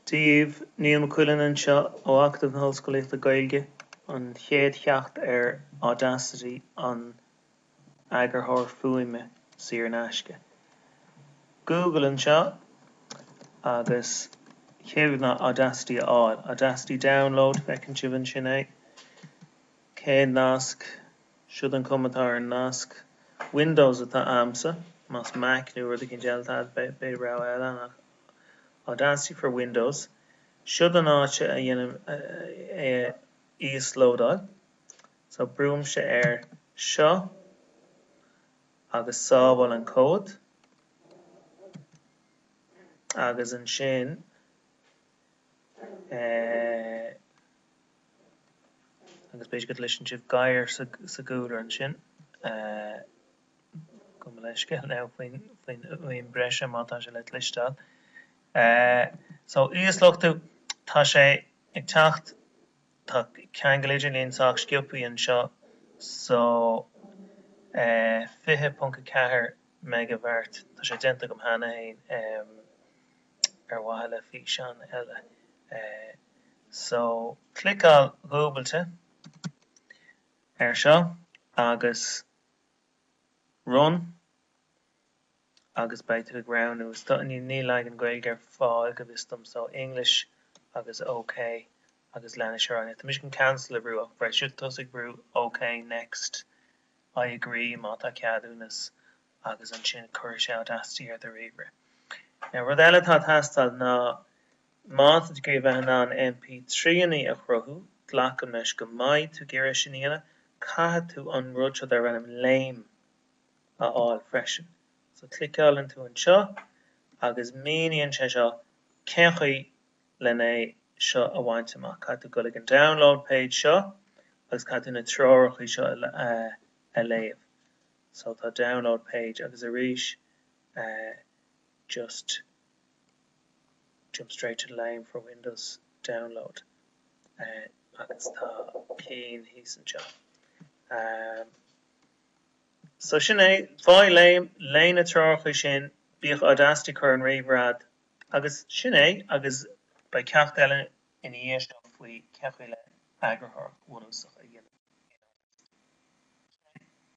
díobh, Niall McQuillan anseo ó Acadamh na hOllscolaíochta Gaeilge, an chéad cheacht ar Audacity, an t-eagarthóir fuaime saor in aisce, Google anseo agus chéad rud ná Audacity a fháil, Audacity Download, feiceann sibh ansin é, chéad nasc, siod an chuma atá ar an nasc, Windows atá a'msa, más Mac nó rud eicínt eile atá a'd beidh rogha eile ann ach. Audacity for Windows, Siod an áit a dhéanann muid é a íoslódáil. So brúimse air seo agus sábháil an comhad agus ansin agus b'fhéidir go gcloiseann sibh gadhar sa gcúlra ansin. Gabh mo leithscéal faoin bhfuaim breise má tá sé le cloisteáil. So, íosluchtú, tá sé ag teacht, tá ceangal idirlín sách sciobthaí anseo, so 20.4 meigibheart, tá sé déanta agam cheana féin ar mhaithe le físeán eile. So, cliceáil dhúbailte air seo agus. Run agus beidh tú ag roghnú is dóigh níl leagan Gaeilge ar fáil go bhfios dom so English agus OK agus leanas ar aghaidh. Tá mise chun cancel a bhrú ach beidh sibh tusa ag brú OK, next, I agree má tá ceadúnas agus ansin cuirfidh sé Audacity ar do ríomhaire. Now rud eile atá ag teastáil ná. Má tá tú le bheith in ann MP3anna a chruthú, glacaim leis go mbeidh tú ag iarraidh sin a dhéanamh, caithfidh tú an rud seo darb ainm LAME a fháil freisin. So cliceálann tú anseo agus míníonn sé seo cén chaoi lena é seo a bhaint amach. Caithfidh tú gabháil ag an download page seo agus caithfidh tú na treoracha seo a léamh. So tá download page agus arís just. jump straight to the LAME for windows download agus tá ceann thíos anseo. so sin é, faigh LAME, léigh na treoracha sin, bíodh Audacity ar an ríomhaire a'd agus sin é agus beidh ceacht eile ina dhiaidh seo faoi cé chaoi le heagarthóireacht bhunúsach a dhéanamh in Audacity. Sin é.